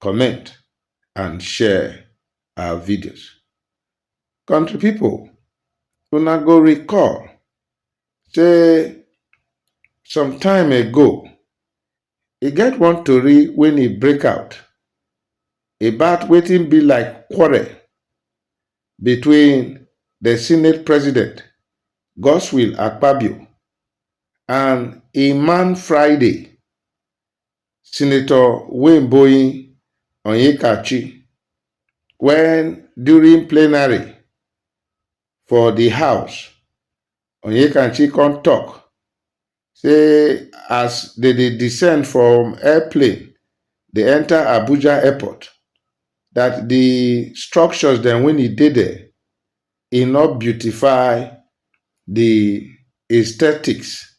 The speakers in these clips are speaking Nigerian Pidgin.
comment and share our videos. Country people, una go recall say some time ago, e get one tori when e break out about wetin be like quarrel between the Senate President Godswill Akpabio and Iman Friday Senator Wayne Onyekachi when during plenary for the house, Onyekachi come talk say as they dey descend from airplane dey enter Abuja airport that the structures then when e dey there e not beautify the aesthetics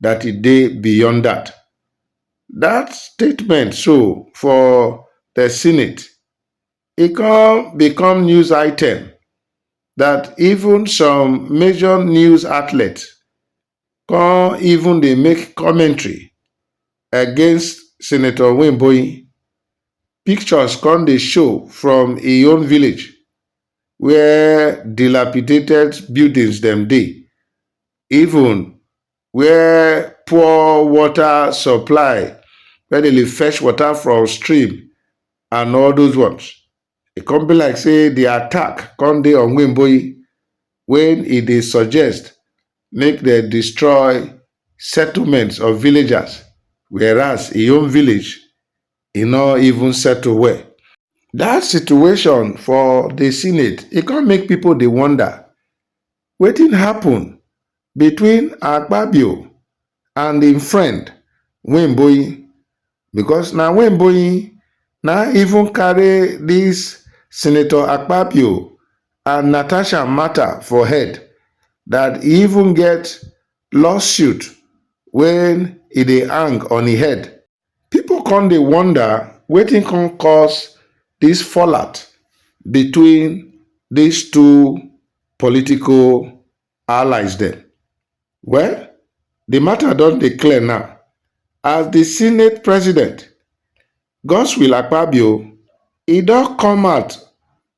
dat e dey beyond dat. Dat statement so for di Senate, e come become news item dat even some major news outlet come even dey make commentary against Senator Nwimboin. Pictures come dey show from e own village where dilapidated buildings dem dey even where poor water supply, where dem dey fetch water from stream and all those ones. E come be like say the attack come dey on Wimboyi when e dey suggest make dem destroy settlements of villagers whereas im own village e no even settle well. That situation for the senate e come make people dey wonder wetin happun between akpabio and im friend weinboin becos na weinboin na even carry dis senator akpabio and natasha mata for head dat e even get lawsuit wey e dey hang on im head Pipo come dey wonder wetin come cause dis fallout between dis two political allies dem. Well, di mata don dey clear now as di senate president, Godswill Akpabio, e don come out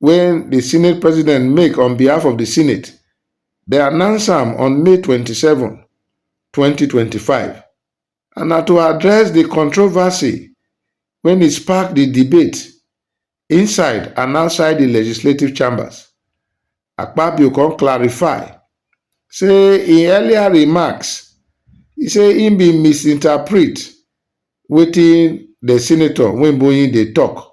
wey di senate president make on behalf of di senate dem announce am on May twenty seven, twenty twenty five and na to address di controversy wey e spark di debate inside and outside di legislative chambers. Akpabio come clarify say im earlier remarks e say im bin misinterpret wetin di senator Nwebunyi dey tok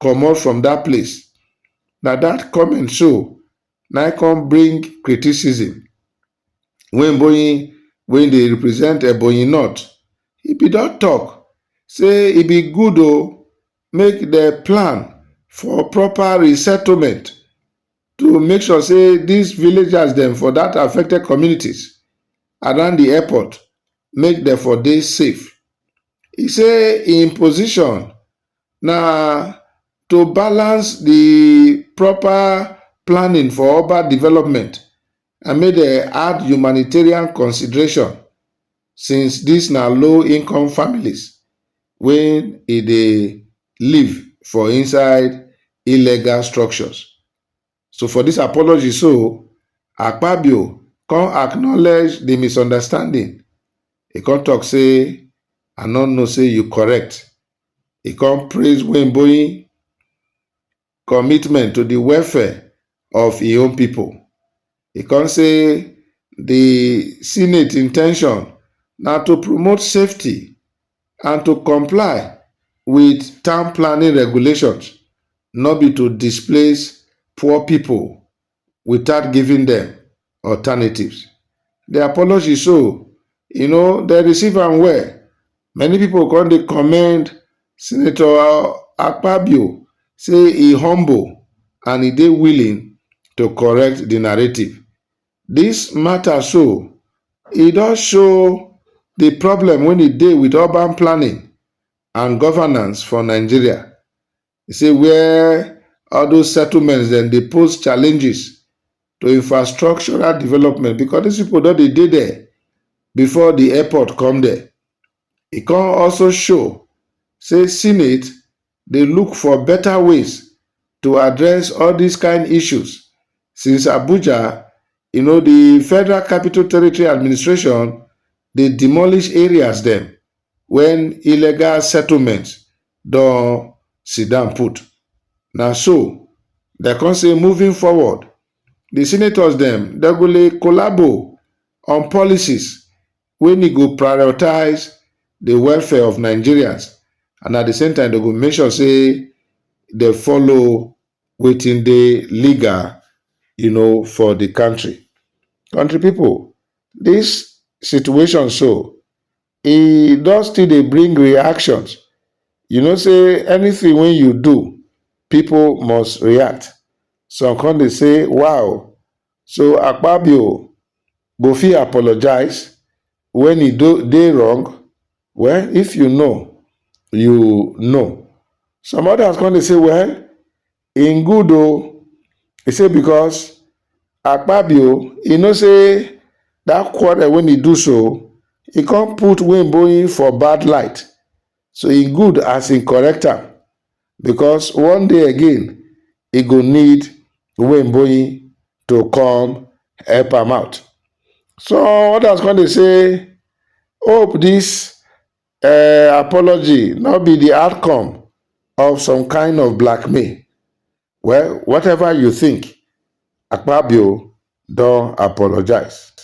comot from dat place, na dat comment so na im come bring criticism when Bonyi wey dey represent Ebonyi North, he be don talk say e be good o make dem plan for proper resettlement to make sure say dis villagers dem for dat affected communities around the airport make dem for dey safe. He say im position na to balance the proper planning for urban development and make dem add humanitarian consideration since this na low income families wey e dey live for inside illegal structures. So for dis apology so, Akpabio come acknowledge di misunderstanding, e come tok say, I no know say you correct. E come praise Weinboin commitment to di welfare of im own pipo. E come say di Senate intention na to promote safety And to comply wit town planning regulations no be to displace poor pipo without giving dem alternatives. Di apology so, you know, dem receive am well. Many pipo come dey commend Senator Akpabio say e humble and e dey willing to correct di narrative. Dis mata so, e don show di problem wen e dey wit urban planning and governance for Nigeria. E say where all dose settlements dem dey pose challenges to infrastructural development becos dis pipo don dey dey there before di airport come there. E come also show say Senate, dey look for better ways to address all dis kain issues since Abuja, you know, di Federal Capital Territory Administration dey demolish areas dem wen illegal settlements don sit down put. Na so dem come say moving forward, di senators dem dem go dey collabo on policies wey ni go prioritize di welfare of Nigerians and at di same time dem go make sure say dem follow wetin dey legal you know for di country. Country people dis situation so e don still dey bring reactions you know say anything wey you do people must react some come dey say wah o So Akpabio go fit apologize when he do dey wrong? Well if you know, you know. Some others come dey say well im good o, he say because Akpabio he know say that quarrel wey he do so he come put Wimboyin for bad light so he good as he correct am because one day again e go need Wemboyi to come help am out. Some others come dey say hope this uh, apology no be the outcome of some kind of blackmail. Well, whatever you think, Akpabio don apologize.